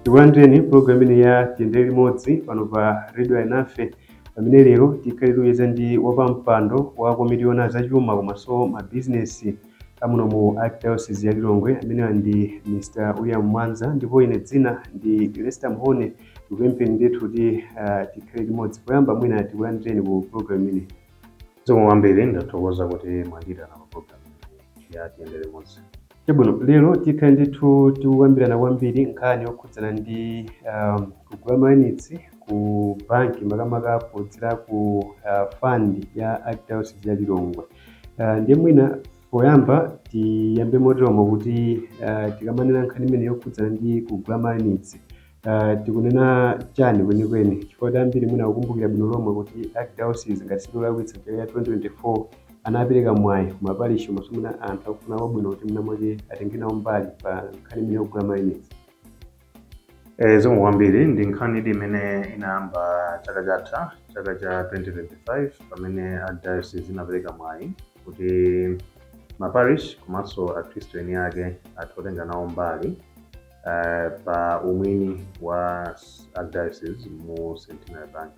tikulandireni pulogalamu imene ya tiyendere limodzi pano pa redio ayinafe pamene lero tikhale tikucheza ndi wapampando wa komiti yona zachuma komanso mabizinesi amuno mu archdiocese ya lilongwe amenewa ndi mr william mwanza ndipo ine dzina ndi lester mhone Ndikupempheni ndithu kuti ah, tikhale limodzi poyamba mwina tikulandireni ku program imeneyi zikomo kwambiri ndathokoza kuti mwandiyitana pa program imeneyi ya tiyende limodzi chabwino lero tikhale ndithu tikukambirana kwambiri nkhani yokhudzana ndi um, kugula mayunitsi ku banki makamaka kudzera ku uh, fund ya archdiocese ya lilongwe uh, ndiye mwina poyamba tiyambe moteromo kuti uh, tikamanena nkhani imene yokhudzana ndi kugula mayunitsi Uh, tikunena chani kwenikweni chifukwa kuti ambiri mwina akukumbukira bwino lomwe kuti archdiocese ngati sindikulakwitsa chaka cha 2024 anapereka mwayi ku maparish komanso mwina anthu akufuna kwabwino kuti mwina mwake atenge nawo mbali pa nkhani imene yokugula mayunitsi Eh, zikomo kwambiri ndi nkhani idi imene inayamba chaka chatha chaka cha 2025 pamene archdiocese inapereka mwayi kuti maparish komanso akhristu eni ake athe kutenga nawo mbali eh, pa umwini wa s- archdiocese mu centenary bank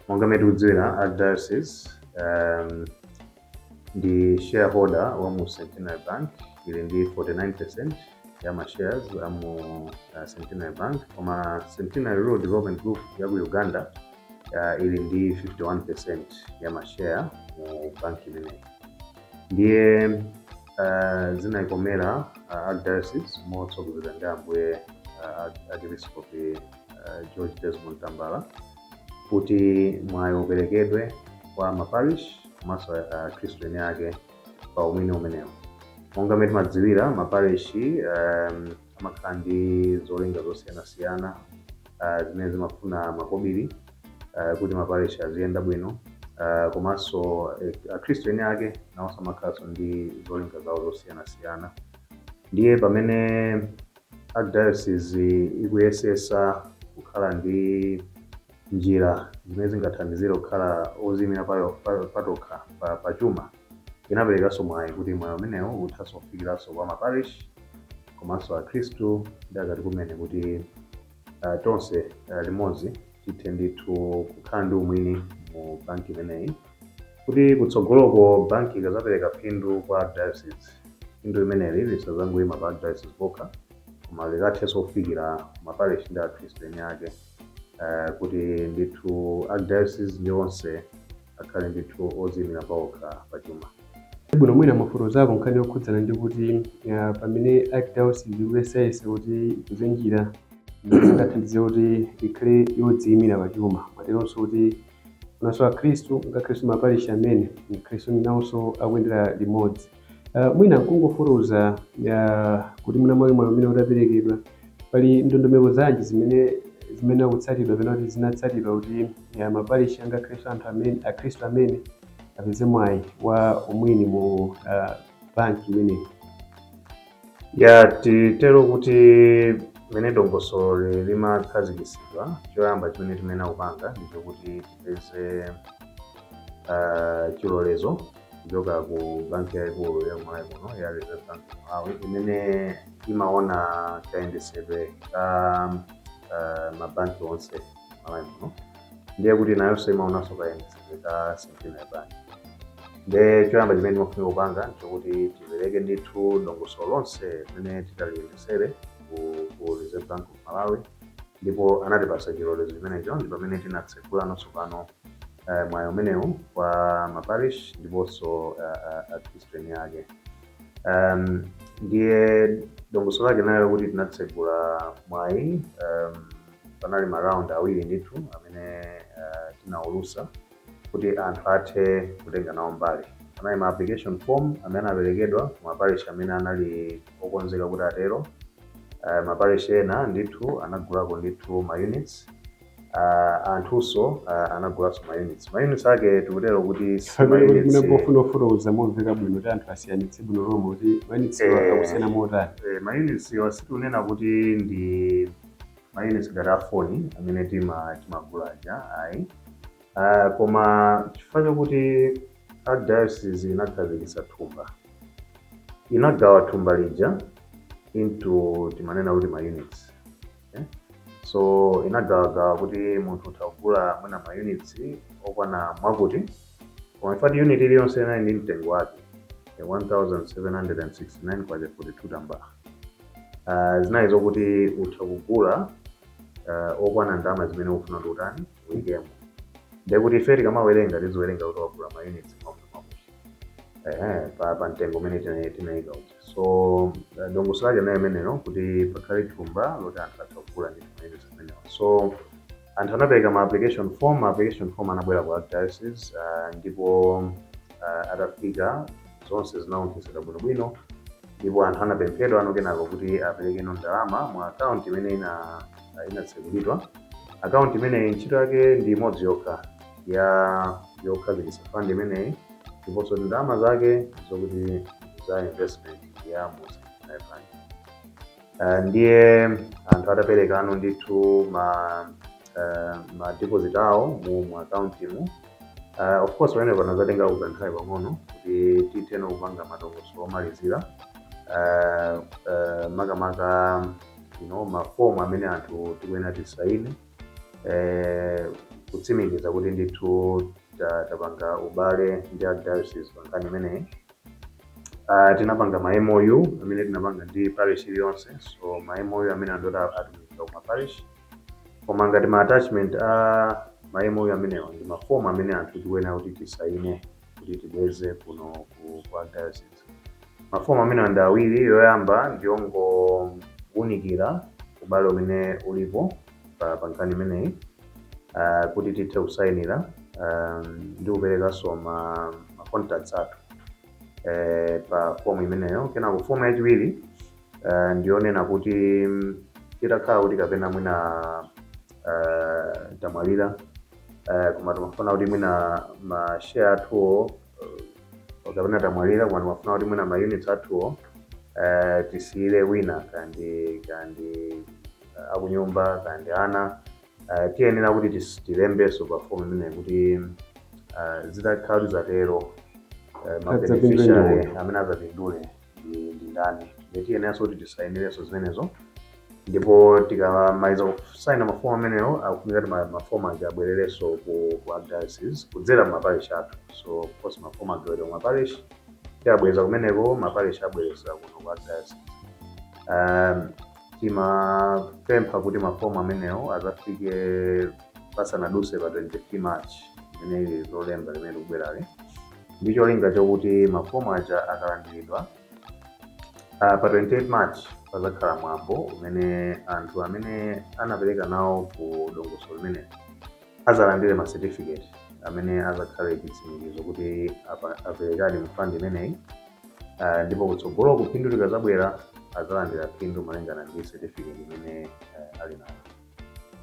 monga mmene tikudziwira archdiocese um, ndi shareholder wa mu centenary bank ili ndi 49 percent ya ma shares a mu uh, centenary bank koma centenary rural development group ya ku uganda uh, ili ndi 51 percent ya ma share mu banki imeneyi ndiye ah, zinayikomera ah, archdiocese motsogozedwa ndi ambuye ah, archiepiskopi ah, george desmond tambala kuti mwayi uperekedwe kwa maparish komanso akhristu eni ake pa umwini umenewu monga mmene timadziwira maparishi um, amakhala ndi zolinga zosiyanasiyana ah, zimene zimafuna makobiri ah, kuti maparish aziyenda bwino ah, komanso eh, akhristu eni ake nawonso amakhalanso ndi zolinga zawo zosiyanasiyana ndiye pamene archdiocese ikuyesesa kukhala ndi njira zimene zingathandizire kukhala oziyimira payo- pa- patokha pa- pachuma Inaperekanso mwayi kuti mwayi umenewu uthanso kufikiranso kwa ma parish komanso akhristu achikatolika kumene kuti ah, tonse ah, limodzi tithe ndithu kukhala ndi umwini mu banki imeneyi kuti kutsogoloko banki ikazapereka phindu kwa diocese phindu limeneli lisazangoima pa diocese pokha koma likathenso kufikira ma parish ndi akhristu eni ake eh, kuti ndithu archdiocese ndi onse akhale ndithu oziimira paokha pa chuma. Chabwino, mwina mwafotokozako nkhani yokhudzana ndi kuti ah, pamene archdiocese ikuyesayesa kuti ipeze njira zingathandize kuti ikhale yodziimira pa chuma momwemonso kuti nawonso akhristu ngakhalenso maparishi amene akhristu nawonso akuyendera limodzi Uh, mwina kungofotokoza uh, kuti mwina mwayi mwayi umene udaperekedwa pali ndondomeko zanji zimene zimene zikutsatidwa kapena kuti zinatsatidwa kuti uh, maparishi ngakhale akhristu anthu amene akhristu amene apeze mwayi wa umwini mu uh, banki imeneyi ya titero kuti mmene dongosolo limakhazikitsidwa choyamba chimene timayenera kupanga ndichokuti tipeze uh, chilolezo kuchoka ku banki yaikulu ya Malawi muno ya Reserve Bank of Malawi imene imaona kayendetsedwe ka uh, mabanki onse Malawi muno ndiye kuti nayonso imaonanso kayendetsedwe ka Centenary Bank nde choyamba chimene timafuna kupanga nchokuti tipereke ndithu dongosolo lonse limene titayendetsere ku, ku Reserve Bank of Malawi ndipo anatipasa chilolezo chimenecho ndi pamene tinatsekulano tsopano mwayi umenewu kwa ma parish ndiponso akhristu eni ake. Um, ndiye dongosolo lake linali lakuti tinatsegula mwayi um, panali ma round awiri ndithu amene uh, tinaulusa kuti anthu athe kutenga nawo mbali. Panali ma application form amene anaperekedwa ku ma parish amene anali okonzeka kuti atero. Uh, ma parish ena ndithu anagulako ndithu ma units uh, anthunso uh, anagulanso mayunitsi mayunitsi ake tikutero kuti pofuna kufotokoza momveka bwino kuti anthu asiyanitse bwino lomwe kuti mayunitsi eh, akusiyana motani eh, mayunitsi awa sitikunena kuti ndi mayunitsi ngati afoni amene timagula aja ayi uh, koma chifukwa chakuti archdiocese inakhazikitsa thumba inagawa thumba lija into timanena kuti mayunitsi eh? so inagawagawa kuti munthu utha kugula mwina ma units okwana mwakuti koma in fact unit iliyonse inali ndi mtengo wake eh, 1769 kwacha 42 tambala uh, zinali zokuti utha kugula uh, okwana ndalama zimene ukufuna kuti utani uyikemo ndekuti ife tikamawerenga tiziwerenga kuti wagula ma units mwakuti mwakuti eh, pa, pa mtengo umene tina- tinayika uja so uh, dongosolo lake nayo imeneyo kuti pakhale thumba loti anthu atha kugula ndi mayunitsi amenewa so anthu anapereka ma application form ma application form anabwera ku archdiocese uh, ndipo uh, atafika zonse zinasonkhetsedwa bwinobwino ndipo anthu anapemphedwa ano kenako kuti aperekeno ndalama mu akaunti imene ina inatsekulidwa akaunti imeneyi ntchito yake ndi imodzi yokha yokhazikitsa fund imeneyi ndiponso ndalama zake zokuti za investment ya mu Centenary Bank. Eh, ndiye anthu ataperekano ndithu ma eh, ma deposit awo mu mu account mu Uh, of course pamene panadzatenga ka nthawi pang'ono kuti titheno kupanga madongosolo omalizira uh, uh, makamaka you know, mafomu amene anthu tikuyenera tisaine eh, kutsimikiza kuti ndithu ta- tapanga ubale ndi archdiocese pa nkhani imeneyi Ah, tinapanga ma MOU amene tinapanga ndi parish iliyonse so ma MOU amene anthu ota atumizidwa kuma parish koma ngati ma attachment a ma MOU amenewa ndi mafomu amene anthu tikuyenera kuti tisaine kuti tibweze kuno ku archdiocese Mafomu amenewa ndi awiri, yoyamba ndi yongowunikira ubale umene ulipo pa pa nkhani imeneyi ah, kuti tithe kusayinira ah, ndi kuperekanso ma, ma contacts athu eh, pa fomu imeneyo. Kenako fomu yachiwiri eh, ndi yonena kuti mm, titakhala kuti kapena mwina eh, tamwalira eh, koma timafuna kuti mwina ma share athuwo uh, kapena tamwalira koma timafuna kuti mwina maunits athuwo uh, tisiyire wina kandi kandi uh, akunyumba kandi ana uh, tiyenera kuti tis- tilembenso pa fomu imeneyi kuti uh, zitakhala kuti zatero uh, ma beneficiary amene azapindule ndi ndi ndani ndi tiyeneranso kuti tisainirenso zimenezo ndipo tikamaliza kusaina mafomu amenewo akufunika kuti ma- mafomu aja abwererenso ku ku archdiocese kudzera mu maparish athu so of course mafomu agawidwa ku maparish tiabweza kumeneko maparish abwereza kuno ku archdiocese um, timapempha kuti mafomu amenewo azafike pasanaduse pa 23 march imene ili lolemba limene likubwerali ndi cholinga chokuti mafomu aja akalandiridwa ah, pa 28 march pazakhala mwambo umene anthu amene anapereka nawo ku dongosolo limeneli azalandire ma certificate amene azakhale chitsimikizo kuti apa- aperekadi mu fund imeneyi Ah, ndipo kutsogolo phindu likazabwera azalandira phindu malingana ndi certificate imene eh, ali nayo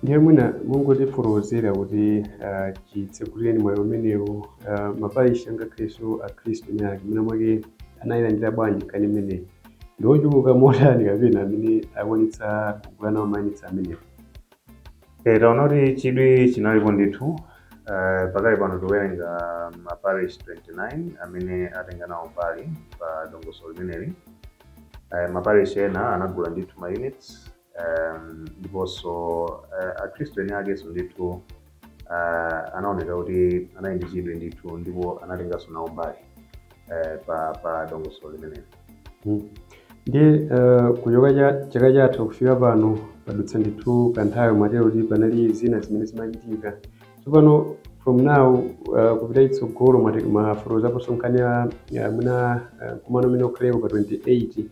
ndiye mwina mungotifotokozera kuti ah, chitsegulireni mwayi umenewu ah, maparishi angakhalenso akhristu eni ake mwina mwake anayilandira bwanji nkhani imeneyi ndi ochuluka motani kapena amene akwanitsa kugula nawo mayunitsi amenewo Eh, taona kuti chidwi chinalipo ndithu Eh, pakali pano tikuwerenga maparish 29 amene atenga nawo mbali pa dongosolo limeneli Eh, maparish ena anagula ndithu ma units um, ndiponso uh, akhristu eni akenso ndithu uh, anaoneka kuti anali ndi chidwi ndithu ndipo anatenganso nawo mbali uh, pa, pa dongosolo limeneli Mm. ndi eh, kuchoka cha- chaka chatha kufika pano padutsa ndithu kanthawi mwatero kuti panali zina zimene zimachitika tsopano from now eh, kupita chitsogolo mwati- mwafotokozaponso nkhani ya- a- mwina eh, mkumano umene ukhaleko pa 28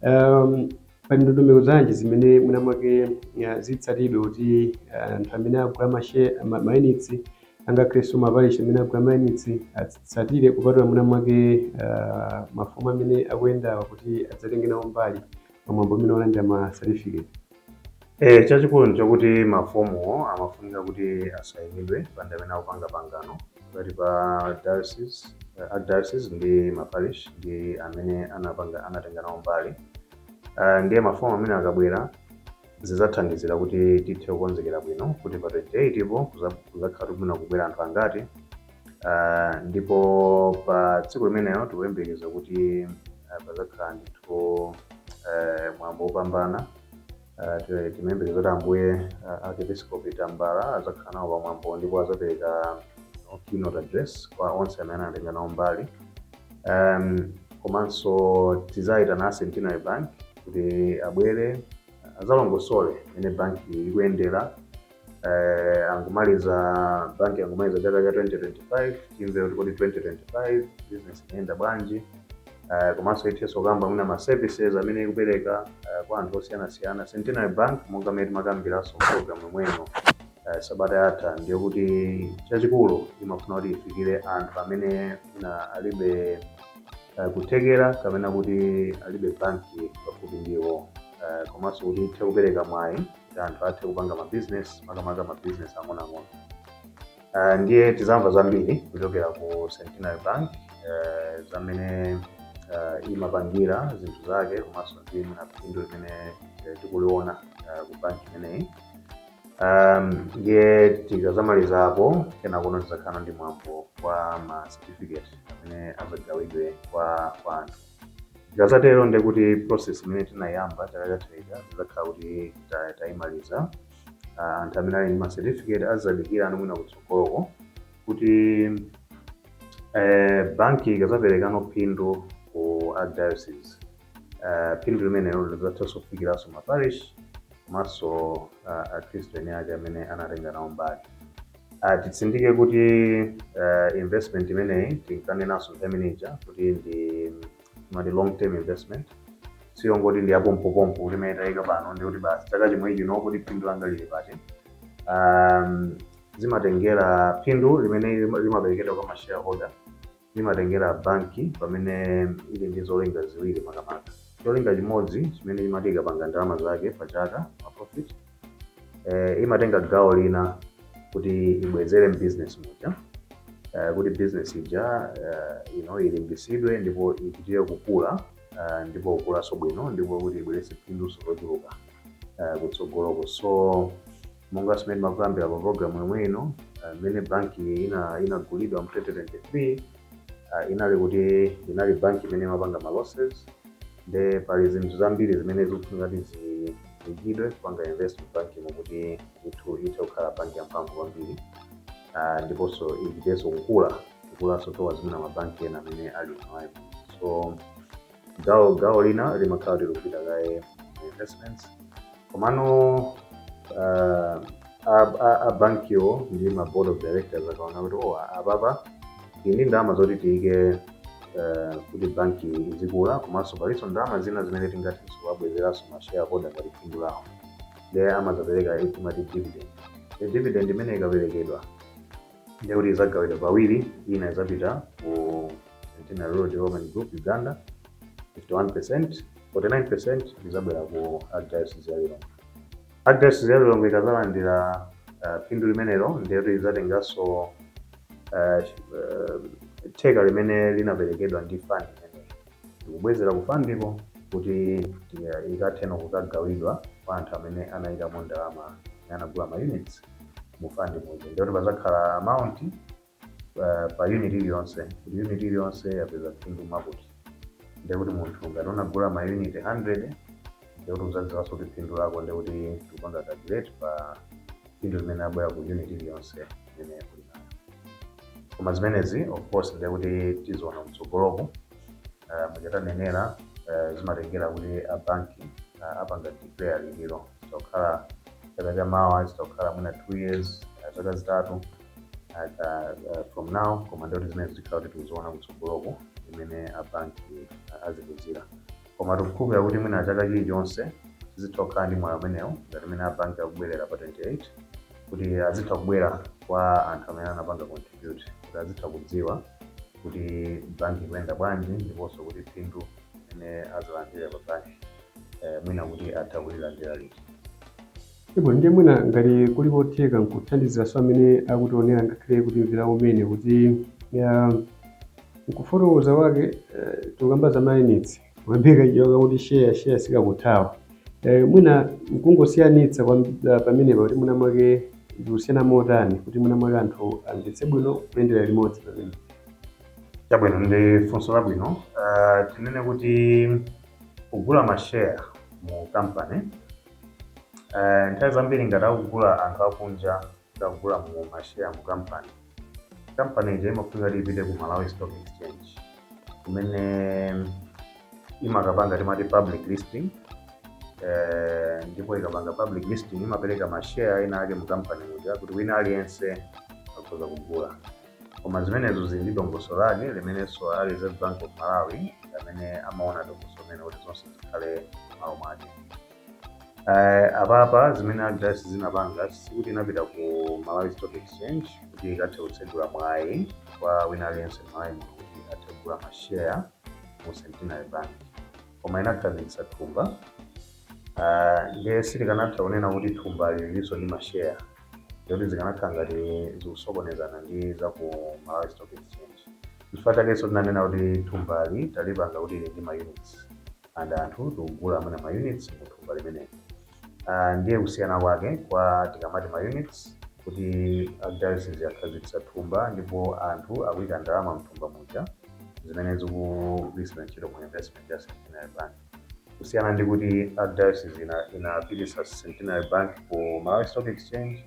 um, Pali ndondomeko zanji zimene mwinamwake ah, zitsatidwe kuti ah, anthu amene agula mashe ma- mayunitsi angakhalenso maparishi amene agula mayunitsi atsatire kupatula mwinamwake ah, mafomu amene akuyendawa kuti adzatenge nawo mbali pamwambo umene wolandira ma certificate Eh, chachikulu nchakuti mafomuwo amafunika kuti asayinidwe pa anthu amene akupanga pangano pakati pa diocese, uh, archdiocese ndi maparish ndi amene anapanga anatenga nawo mbali uh, ndiye mafomu amene akabwera zidzathandizira kuti tithe kukonzekera bwino kuti pa 28 po kuza- kuzakhala tikufuna kubwera anthu angati uh, ndipo pa tsiku limenelo tikuyembekeza kuti uh, pazakhala ndithu uh, mwambo wopambana Ah, ti- timayembekeza kuti ambuye ah, archiepiscopi tambala adzakhala nawo pamwambo ndipo adzaperekano keynote address kwa onse amene anatenga nawo mbali um, komanso tidzayitana a centenary bank kuti abwere adzalongosole mmene banki ikuyendera eh, angomaliza banki angomaliza chaka cha 2025 timve kuti kodi 2025 business inayenda bwanji eh, komanso ithenso kukamba mwina ma services amene ikupereka eh, kwa anthu osiyanasiyana centenary bank monga mmene timakambiranso program yomweyo eh, sabata yatha ndiye kuti chachikulu imafuna kuti ifikire anthu amene mwina alibe eh, kuthekera kapena kuti alibe banki pafupi ndi iwo eh, komanso kuti ithe kupereka mwayi kuti anthu athe kupanga ma business makamaka ma business ang'onoang'ono uh, ndiye tizamva zambiri kuchokera ku centenary bank uh, zamene uh, imapangira zinthu zake komanso ndi phindu limene uh, tikuliona uh, ku banki imeneyi um, ndiye tikazamaliza apo kenakono tizakhala ndi mwambo wa ma certificate amene azagawidwe kwa kwa anthu Tikadzatero ndiye kuti process imene tinayamba chaka chatha ija tidzakhala kuti ta- tayimaliza. Ah, Anthu amene ali ndi ma certificate azadikira ano mwina kutsogoloko kuti eh, banki ikazaperekano phindu ku archdiocese eh, phindu limenelo lidzathanso kufikiranso maparish komanso ah, akhristu eni ake amene anatenga nawo mbali Uh, titsindike kuti uh, investment imeneyi tinkanenanso nthawi imene ija kuti ndi imati long term investment siyo ngoti ndi yapompopompo kuti imene tayika pano ndi kuti basi chaka chimwe chino kuti phindu langa lili pati um, zimatengera phindu limene lima- limaperekedwa kwa mashareholder limatengera banki pamene ili ndi zolinga ziwiri makamaka. Cholinga chimodzi chimene imati ikapanga ndalama zake pa chaka ma profit eh, imatenga gawo lina kuti ibwezere mbusiness muja eh, kuti business ija eh, you know, ilimbisidwe ndipo ipitirire kukula eh, ndipo kukulanso bwino ndipo kuti ibweretse phinduso lochuluka eh, kutsogoloko so Monga zimene timakambira pa program yomwe ino, ah, mmene banki ina inagulidwa mu 2023 ah, inali kuti inali banki imene imapanga ma losses nde pali zinthu zambiri zimene zikufunika kuti zi- ziikidwe kupanga invest mu banki imo kuti ithu ithe kukhala banki yamphamvu kwambiri Ah, ndiponso ipitenso kukula kukulanso towards mwina mabanki ena amene ali nawo so gawo gawo lina limakhala likupita kaye ku investments komano uh, a- a- a bankiwo ndi ma board of directors akaona kuti oh, apapa tili ndi ndalama zoti tiyike eh, kuti banki izikula komanso palinso ndalama zina zimene tingathe kuwabwezeranso ma shareholder ngati phindu lawo ndiye amazapereka timati dividend e dividend imene ikaperekedwa ndekuti izagawidwa pawiri ina izapita ku Centenary Rural Development Group Uganda 51%, 49% izabwera ku Archdiocese ya Lilongwe. Archdiocese ya Lilongwe ikazalandira uh, phindu limenelo ndiye kuti izatenganso uh, uh, theka limene linaperekedwa ndi fund imeneyi ndikubwezera ku fandiko kuti uh, ikathenso kukagawidwa kwa anthu amene anayikamo ndalama anagula ma units mu fund muja ndiye kuti pazakhala amount pa- pa unit iliyonse kuti unit iliyonse yapeza phindu mwakuti ndiye kuti munthu ngati unagula ma unit 100 ndiye kuti uzadziwanso kuti phindu lako ndiye kuti tikupanga calculate pa phindu limene labwera ku unit iliyonse imene uli nayo koma zimenezi of course ndiye kuti tiziona kutsogoloku uh, mmene tanenera uh, zimatengera kuti abanki uh, apanga declare liti olo zitakhala chaka cha mawa zitakhala mwina two years uh, zaka zitatu aka uh, from now koma ndiye kuti zimene zikhala kuti tiziona kutsogoloko imene abanki azikuzira koma tikukhulupirira kuti mwina chaka chilichonse tizitha kukhala ndi mwayi umenewo ngati imene abanki akubwerera pa 28 kuti azitha kubwera kwa anthu amene anapanga contribute kuti azitha kudziwa kuti banki ikuyenda bwanji ndiponso kuti phindu imene azalandira pa banki eh, mwina kuti atha kulilandira liti Chabwino, ndiye mwina ngati kuli kotheka nkuthandiziranso amene akutionera ngakhale kutimvera kumene kuti ya nkufotokoza kwake eh, tikukamba za mayunitsi pamene kachiwoka kuti share share sikakuthawa eh, mwina nkungosiyanitsa kwa ah, pamenepa kuti mwina mwake ndikusiyana motani kuti mwina mwake anthu amvetse bwino kuyendera limodzi pamene Chabwino ndi funso labwino. Uh, tinene kuti kugula mashare mu company Eh, nthawi zambiri ngati akugula anthu akunja akugula mu mashare mu company company ija imafunika kuti ipite ku malawi stock exchange kumene imakapanga timati public listing eh, ndipo ikapanga public listing imapereka mashare ena ake mu company muja kuti wina aliyense akhoza kugula Koma zimenezo zili ndi dongosolo lake limenenso a Reserve Bank of Malawi ndi amene amaona dongosolo limenelo kuti zonse zikhale m'malo mwake. Eh, apapa zimene archdiocese inapanga sikuti inapita ku Malawi Stock Exchange kuti ikathe kutsegula mwayi kwa wina aliyense m'Malawi muno kuti athe kugula ma share mu Centenary Bank. Koma inakhazikitsa thumba. Ah, ndiye sitikanatha kunena kuti thumbali lilinso ndi ma share. ndikuti zikanakhala ngati zikusokonezana ndi za ku malawi stock exchange chifukwa chakenso tinanena kuti thumbali talipanga kuti ili ndi ma units and anthu tikugula amene ma units mu thumba limeneli Ah, ndiye kusiyana kwake kwa tikamati ma units kuti archdiocese yakhazikitsa thumba ndipo anthu akuyika ndalama mthumba muja zimene zikugwiritsidwa ntchito mu investment ya centenary bank kusiyana ndi kuti archdiocese ina inapititsa centenary bank ku malawi stock exchange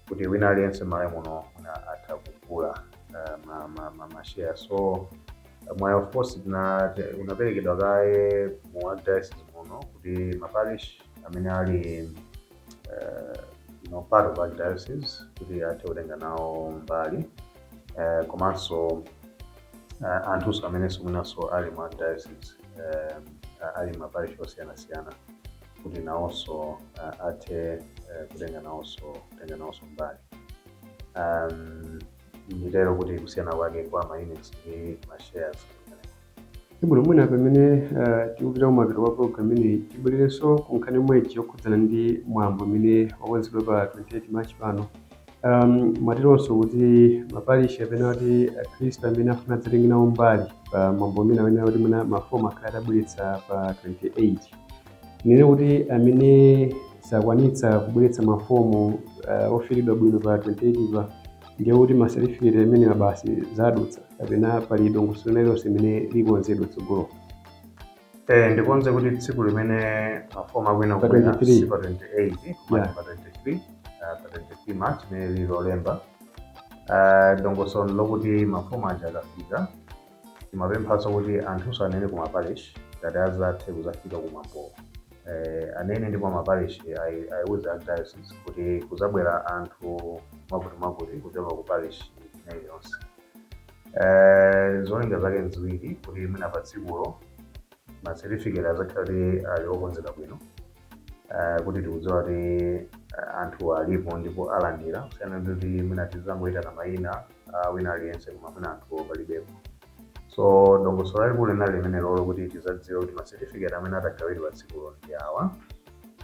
kuti wina aliyense malawi muno mwina atha kugula uh, ma, ma, ma, ma share so uh, mwayi of course tina- ti- unaperekedwa kaye mu archdiocese muno kuti maparish amene ali eh, no part of archdiocese kuti athe kutenga nawo mbali eh, komanso eh, anthunso amenenso mwinanso ali mu archdiocese eh, ali maparish osiyanasiyana kuti nawonso eh, athe eh, kutenga nawonso kutenga nawonso mbali um, nditero kuti kusiyana kwake kwa ma units ndi ma shares Chabwino, mwina pamene uh, tikupita kumapeto kwa program imeneyi tibwererenso ku nkhani yomwe ija yokhudzana ndi mwambo umene wakonzedwa pa 28 March pano. Um, mwatiuzanso kuti maparishi kapena kuti akhristu amene afuna adzatenge nawo mbali pa mwambo umene amene kuti mwina mafomu akhale atabweretsa pa 28 ndiye kuti amene sakwanitsa kubweretsa mafomu uh, ofilidwa bwino pa 28 pa Ndiye kuti ma certificate amenewa basi zadutsa kapena pali dongosolo lina lililonse limene likonzedwe mtsogolo? Eh, ndikonze kuti tsiku limene mafomu akuyenera kubwera si pa 28 koma pa 23 ah, pa 23 March imene lili lolemba Ah, dongosolo lokuti mafomu aja akafika Timapemphanso kuti anthunso anene ku ma parish ngati azathe kuzafika ku mwambowo eeh anene ndipo ma parish ayiuze archdiocese kuti kuzabwera anthu mwakuti mwakuti kuchoka ku parish ina iliyonse eeh zolinga zake nziwiri kuti mwina pa tsikulo ma certificate azakhala kuti ali okonzeka bwino. uh, kuti tikudziwa kuti uh, anthu alipo ndipo alandira kusiyana ndi kuti mwina tizangoyitana mayina uh, wina aliyense koma mwina anthu palibepo so dongosolo lalikulu linali limenelolo kuti tizadziwe kuti ma certificate amene atagawidwe patsikulo ndi awa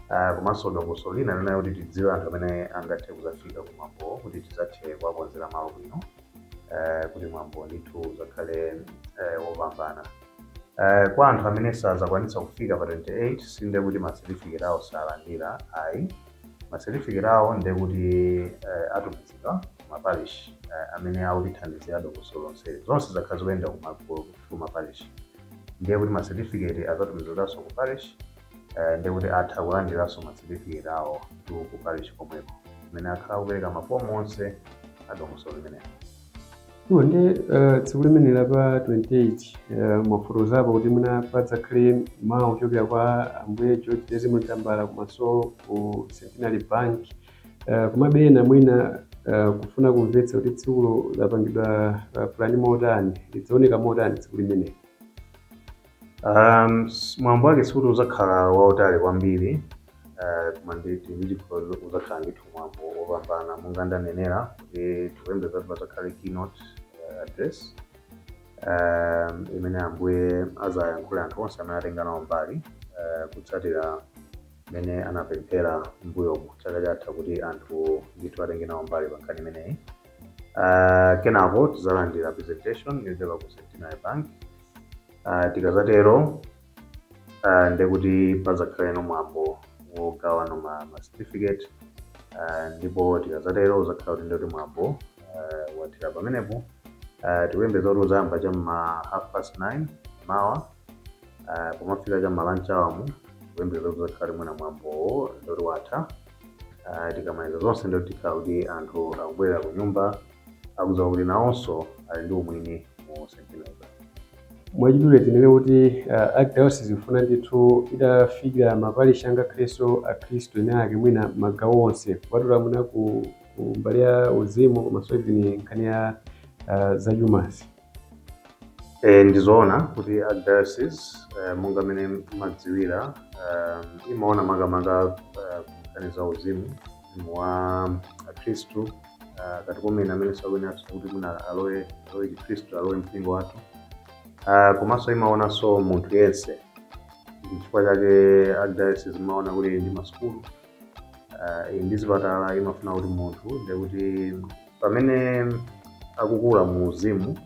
uh, komanso dongosolo lina linali kuti tidziwe anthu amene angathe kuzafika kumwambo kuti tizathe kuwakonzera malo bwino uh, kuti mwambo ndithu uzakhale uh, wopambana Eh, kwa anthu amene sazakwanitsa kufika pa 28 si nde kuti ma certificate awo salandira ayi ma certificate awo nde kuti eh, atumizidwa ku ma parish eh, amene akutithandizira dongosolo lonse zonse zakhala zikuyenda ku ma- ku- ku ma parish ndiye kuti ma certificate azatumizidwanso ku parish eh, ndiye kuti atha kulandiranso ma certificate awo ku ku parish komweko amene akhala akupereka mafomu onse a dongosolo limenelo Iwo ndi eh, tsiku limeneli la pa 28 eh, mwafotokozapo kuti mwina padzakhale mawu ochokera kwa Ambuye George Desmond Tambala komanso ku Centenary Bank Eh, komabe ena mwina eh, kufuna kumvetsa kuti tsikulo lapangidwa eh, pulani motani lidzaoneka motani tsiku limeneli Um, s- mwambo wake sikuti uzakhala wautali kwambiri eh, koma ndili ndi chikhulupiriro kuti uzakhala ndithu mwambo wopambana monga ndanenera kuti tikuyembekeza kuti pazakhale keynote eh, address um, imene Ambuye azayankhule anthu onse amene atenga nawo mbali eh, kutsatira imene anapempha mbuyomu chaka chatha kuti anthu ndithu atenge nawo mbali pa nkhani imeneyi uh, kenako tizalandira presentation yochoka ku Centenary Bank uh, tikazatero uh, ndekuti pazakhalano mwambo wogawana ma, ma certificate uh, ndipo tikazatero uzakhala kuti ndoti mwambo uh, wathera pamenepo uh, tikuyembekeza kuti uzayamba cham'ma half past 9 mawa uh, pomafika cham'ma lunch hour mu tikuyembekeza kuti uzakhala mwina mwambowo ndoti watha uh, tikamaliza zonse ndoti tikhala kuti anthu akubwerera ku nyumba akudziwa kuti nawonso ali ndi umwini mu Centenary Bank. mwachidule tinene kuti uh, archdiocese ikufuna ndithu itafikira maparish angakhalenso akhristu ena ake mwina magawo onse kupatula mwina ku, ku mbali ya uzimu komanso even nkhani ya uh, zachumazi E, ndizoona kuti archdiocese e, monga mmene mumadziwira e, imaona makamaka e, nkhani za uzimu uzimu wa akhristu e, makatekumeni amene akuyenera kuti mwina alowe alowe chikhristu alowe mpingo wathu Ah, komanso imaonanso munthu yense ndi chifukwa chake archdiocese imaona kuti ili ndi masukulu ah, ili ndi zipatala imafuna kuti munthu ndekuti pamene akukula mu uzimu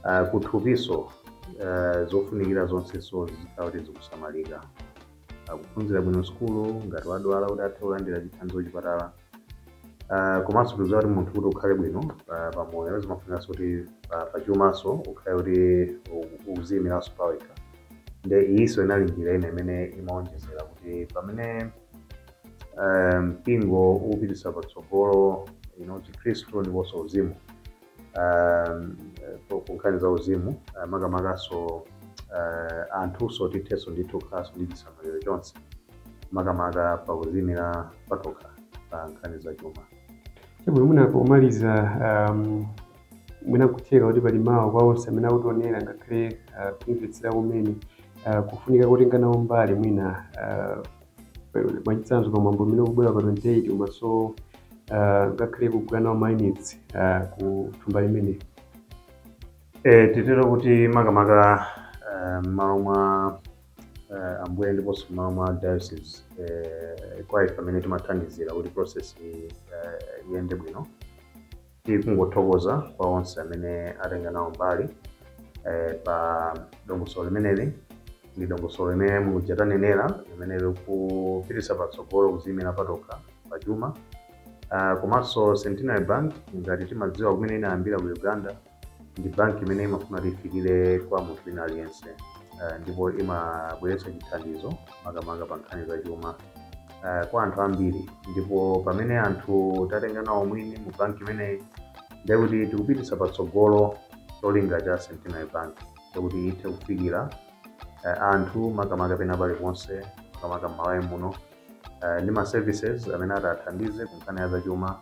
uh, kuthupiso uh, zofunikira zonseso zikhala kuti zikusamalika akuphunzira bwino sukulu ngati wadwala kuti athe kulandira chithandizo kuchipatala uh, komanso tikuziwa kuti munthu kuti ukhale bwino uh, pamoyo zimafunikanso kuti uh, pachumanso ukhale kuti u- ukuziyimiranso pawekha nde iyiso inali njira ina imene imaonjezera kuti pamene eh, mpingo ukupititsa patsogolo you know, chikhristu ndiponso uzimu um, eh, ku- ku nkhani za uzimu eh, makamakanso eh, anthunso tithenso ndithu kukhalanso ndi chisamaliro chonse makamaka pa kuziyimira patokha pa nkhani za chuma Chabwino mwina pomaliza um, mwina nkutheka kuti pali mawu kwa onse amene akutionera ngakhale ah, kumvetsera kumene ah, kufunika kotenga nawo mbali mwina ah, mwachitsanzo pa mwambo umene ukubwera pa 28 komanso ah, ngakhale kugula nawo mayunitsi ku thumba limene E, titero kuti makamaka eh, m'malo mwa eh, ambuye ndiponso m'malo mwa diocese eh, kwa ife amene timathandizira kuti process iyi eh, iyende bwino Tikungothokoza kwa onse amene atenga nawo mbali eh, pa dongosolo limeneli ndi dongosolo limene muja tanenera limene likupititsa patsogolo kuziyimira patokha pa chuma Ah, komanso Centenary Bank ngati mumadziwa kumene inayambira ku Uganda ndi banki imene imafuna kuti ifikire kwa munthu wina aliyense Ah, ndipo imabweretsa chithandizo makamaka pa nkhani za chuma uh, kwa anthu ambiri ndipo pamene anthu tatenga nawo umwini mu banki imeneyi ndiye kuti tikupititsa patsogolo cholinga cha centenary bank chakuti ithe kufikira uh, anthu makamaka pena paliponse makamaka m'malawi muno uh, ndi ma services amene atathandize ku nkhani ya zachuma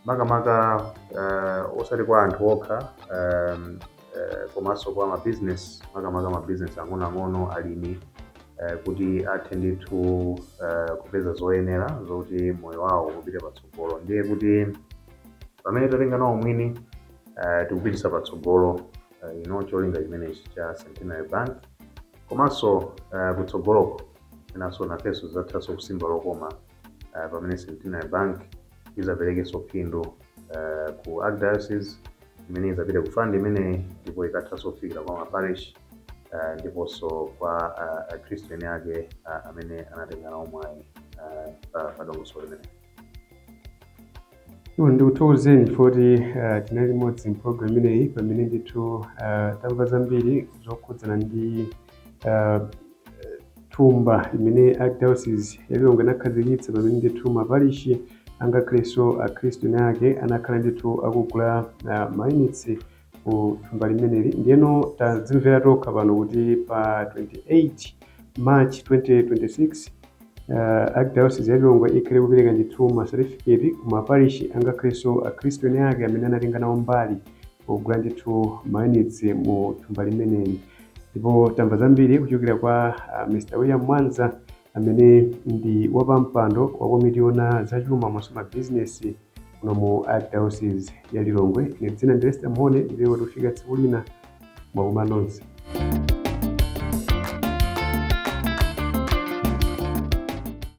makamaka uh, osati kwa anthu okha um, eh, komanso kwa mabizinesi makamaka mabizinesi ang'onoang'ono alimi eh, kuti athe ndithu eh, kupeza zoyenera zokuti moyo wawo upite patsogolo ndiye kuti pamene tatenga nawo umwini eh, tikupititsa patsogolo eh, ino cholinga chimenechi cha centenary bank komanso eh, kutsogoloko enanso nafenso tizathanso kusimba lokoma uh, pamene centenary bank izaperekenso phindu uh, ku archdiocese imene izapita ku fund imeneyi ndipo ikathanso kufikira kwa maparish uh, ndiponso kwa uh, akhristu eni ake uh, amene anatenga nawo mwayi uh, pa- pa dongosolo limeneli Eyo ndikuthokozeni chifukwa kuti eh, tinali limodzi mpologalamu imeneyi pamene ndithu eh, tamva zambiri zokhudzana ndi eh, thumba limene archdiocese ya Lilongwe inakhazikitsa pamene ndithu maparishi angakhalenso akhristu eni ake anakhala ndithu akugula eh, mayunitsi ku thumba limeneli. Ndiyeno tadzimvera tokha pano kuti pa 28 March 2026 uh, Archdiocese ya Lilongwe ikhala ikupereka ndithu ma certificate ku maparishi angakhalenso akhristu eni ake amene anatenga nawo mbali pogula ndithu mayunitsi mu thumba limeneli ndipo tamva zambiri kuchokera kwa uh, Mr. William Mwanza amene ndi wapampando wa komiti yoona za chuma komanso mabizinesi muno mu Archdayosizi ya Lilongwe. Ine dzina ndi Lester Mhone mpaka tikufika tsiku lina mwakoma nonse.